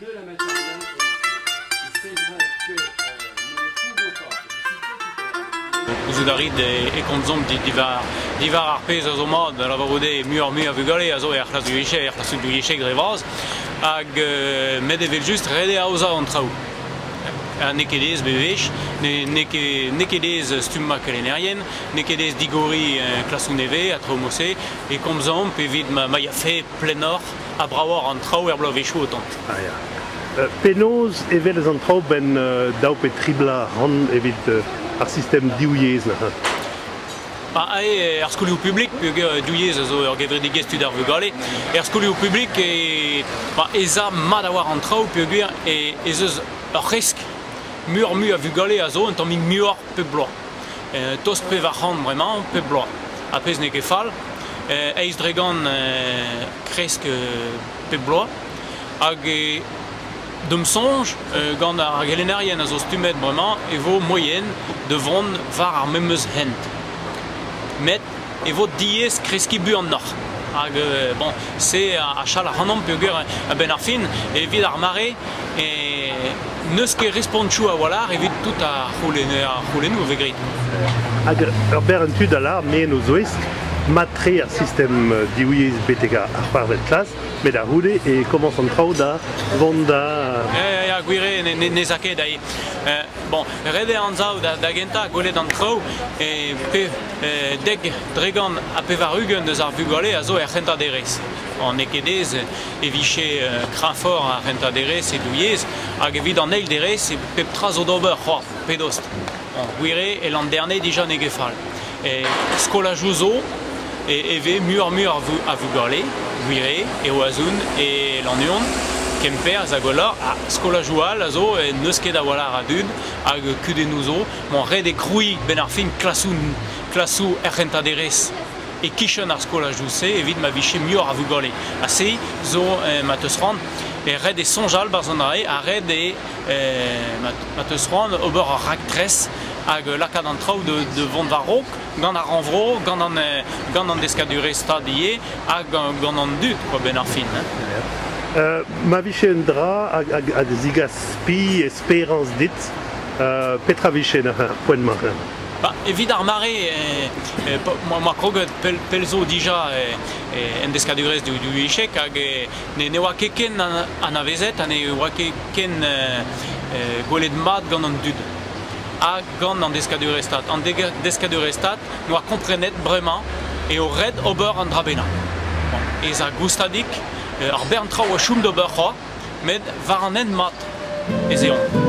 Deux la matière Gouzout a rit e komzomp diwar, diwar ar pezh a zo mat, da lavarout eo muioc'h-mui a vugale a zo er c'hlas du guichet, er c'hlas du guichet dre vras, hag euh, met evel-just ret eo aozañ an traoù. Ha n'eo ket aes bewech, n'eo ket aes stummañ kelennerien, n'eo ket aes digoriñ un klasoù nevez a tro mose, e komzomp evit ma, ma ya plennoc'h ha bravoc'h an traoù er bloavezhioù o tont. Ah, euh, penaos e welez an traoù benn euh, daou pe tri bla ran evit euh, ar sistem div yezh neuze? Ah, er skolioù publik, div yezh a zo ur gevredigezh tud ar vugale, er skolioù publik e, ez a mat a war an traoù peogwir ez eus ur resk mur-mui a vugale a zo un tammig muioc'h pep bloaz. tost pevar c'hant bremañ, pep bloaz, ha pezh n'eo ket fall. Eiz dregan kresk pep bloaz, hag D'am soñj, gant ar gelennerien a zo stummet bremañ, e vo moien da vont war ar memes hent. Met e vo diaes kreskiñ buanoc'h. Hag bon, se a chal ac'hanomp peogwir a-benn ar fin evit ar mare n'eus ket respontoù a-walc'h evit tout ar c'houlennoù a vez graet. Hag ur berenn tud a lâr me en o zouez mat-tre ar sistem divyezh betek ar c'hwec'hvet klas met a-c'houde e komañs an traoù da vont da... Ya, ya, gwir eo, n'ez a ket. Bon, ret eo anzav da gentañ gwelet an traoù e dek, tregont ha pevar-ugent eus ar vugale a zo er c'hentañ derez. N'eo ket aes e vije kreñvoc'h ar c'hentañ derez e douilhez hag evit an eil derez pep tra zo d'ober c'hoazh, pe dost. Gwir eo, e Landerne dija n'eo ket fall. Skolajoù zo e vez muioc'h-mui a vugale, gwir eo, e Oazon, e Lannuon, Kemper, hag holloc'h. Ha skolajoù all a zo n'eus ket a-walc'h a dud hag kudennoù zo. 'mañ ret eo krouiñ 'benn ar fin klasoù er c'hentañ-derez e-kichen ar skolajoù-se evit ma vije muioc'h a vugale. Ha se zo ma teus c'hoant ret eo soñjal barzhonare ha ret eo ma teus c'hoant ober ur raktres hag lakaat an traoù da vont war-raok gant ar rannvro, gant an deskadurezh stad ivez hag gant an dud quoi, 'benn ar fin. Ma vije un dra hag a zigas spi, esperañs dit, petra vijen ar poent-mañ? Bah, evit ar mare, eh, ma kroget pell zo dija eh, en deskadurezh du echek hag ne oa ket ken anavezet ha ne oa ket ken gwelet mat gant an dud ha gant an deskadurezh-stad. An deskadurezh-stad noa komprenet bremañ eo ret ober an dra bennañ. Ez a goustadik, ar bern traoù a choum d'ober c'hoazh, met war an hent mat ez eomp.